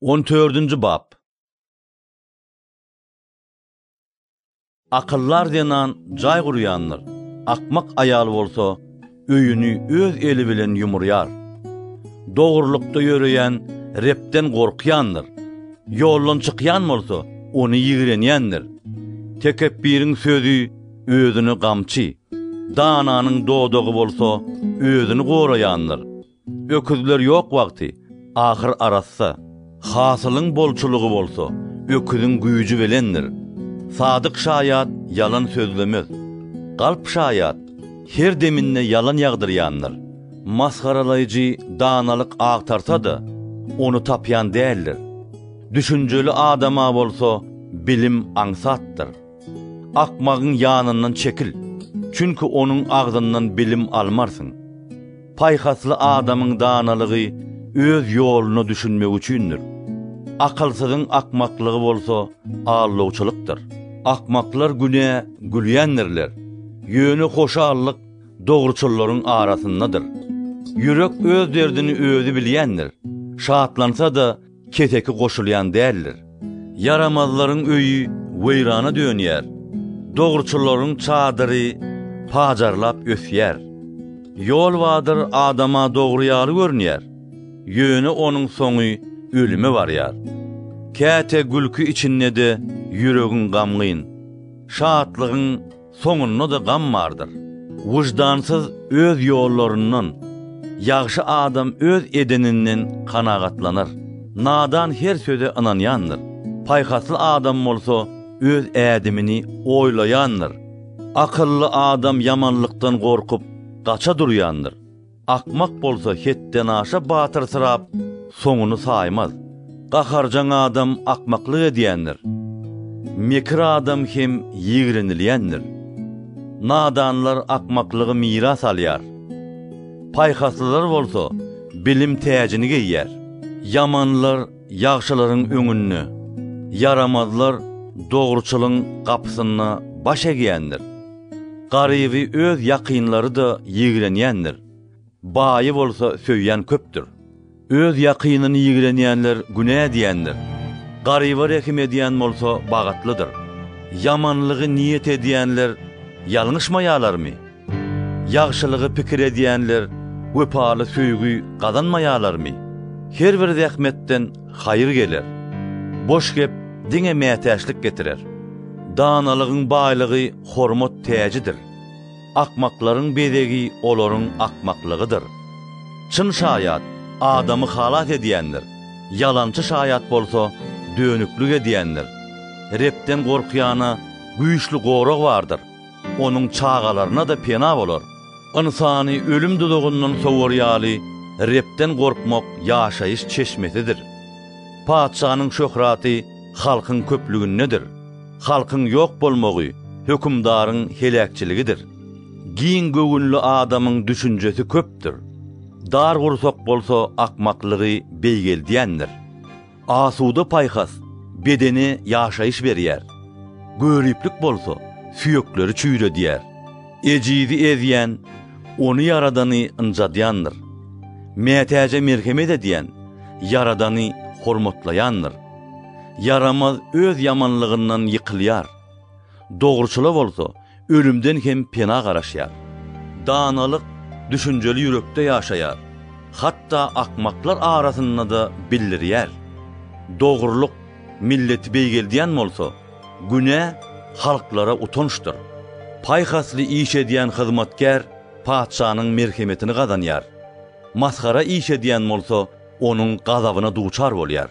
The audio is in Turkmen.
On dördünji bap. Akyldar zenan jaý gurýandyr, akmak aýal bolsa öýüni öz eli bilen ýumurýar. Dogrulykda ýöreýän Rebden gorkýandyr, ýoldan çykýan bolsa, ony ýigrenýändir. Tekepbiriň sözi özüne gamçy, dananyň dodagy bolsa özüni goraýandyr. Öküzler ýok wagty ahyr arassa, hasylyň bolçulygy bolsa, öküziň güýji bilendir. Sadyk şaýat ýalan sözlemez. Galp şaýat her deminde ýalan ýagdyrýandyr. Masgaralaýjy danalyk agtarsa-da, ony tapýan däldir. Düşünjeli adama bolsa bilim aňsatdyr. Akmagyň ýanyndan çekil, çünki onuň agzyndan bilim almarsyň. Paýhasly adamyň danalygy öz ýoluna düşünmegi üçindir. Akylsyzyň akmaklygy bolsa aldawçylykdyr. Akmaklar güne gülýändirler, ýöne hoşallyk dogruçyllaryň arasyndadyr. Ýürek öz derdini özi bilýändir, şatlansa-da, Keseki goşulýan däldir. Ýaramazlaryň öýi weýrana dönýär, dogruçyllaryň çadyry pajarlap ösýär. Ýolbadyr adama dogry ýaly görünýär, ýöne onuň soňy ölüme barýar. Käte gülki içinde-de ýüregiň gamgyn, şatlygyň soňunda-da gam bardyr. Wyždansyz öz ýollaryndan, ýagşy adam öz edeninden kanagatlanar. Nadan her söze ynanýandyr, paýhasly adam bolsa öz ädimini oýlaýandyr. Akylly adam ýamanlykdan gorkup, gaça durýandyr. Akmak bolsa hetdenaşa batyrsyrap, soňuny saýmaz. Gaharjaň adam akmaklyk edýändir. Mekir adam hem ýigrenilýändir. Nadanlar akmaklygy miras alýar. Paýhaslylar bolsa bilim täjini geýýär. Ýamanlar Ýagşylaryň öňünde, ýaramazlar dogruçylyň gapysynda baş egýändir. Garyby öz ýakynlary-da ýigrenýändir, baýy bolsa söýýän köpdür. Öz ýakynyny ýigrenýänler günä edýändir, garyba rehim edýän bolsa bagytlydyr. Ýamanlygy niýet edýänler ýalňyşmaýarlarmy? Ýagşylygy pikir edýänler wepaly söýgi gazanmaýarlarmy? Her bir zähmetden haýyr geler. Boş gep diňe mätäçlik getirer. Danalygyň baýlygy hormat täjidir. Akmaklaryň bezegi olaryň akmaklygydyr. Çyn şaýat adamy halas edýändir, ýalançy şaýat bolsa dönüklik edýändir. Rebden gorkýana güýçli gorag bardyr. Onuň çagalaryna-da pena bolar. Ynsany ölüm duzagyndan sowar ýaly, Rebden gorkmak ýaşaýyş çeşmesidir. Patyşanyň şöhraty halkyň köplügindedir. Halkyň ýok bolmagy hökümdaryň heläkçiligidir. Giň göwünli adamyň düşünjesi köpdür. Dar gursak bolsa akmaklygy beýgeldýändir. Asuda paýhas bedene ýaşaýyş berýär, Göriplik bolsa süýekleri çüýredýär. Ejizi ezýän, ony ýaradany ynjadýandyr, Mätäje merhemet edýän, Ýaradany hormatlaýandyr. Ýaramaz öz ýamanlygyndan ýykylýar, Dogruçyla bolsa, ölümden hem pena garaşýar. Danalyk düşünjeli ýürekde ýaşaýar, hatda akmaklar arasynda-da bildirýär. Dogrulyk milleti beýgeldýän bolsa, günä halklara utançdyr. Paýhasly iş edýän hyzmatkär patyşanyň merhemetini gazanýar, masgara iş edýän bolsa, onuň gazabyna duçar bolýar.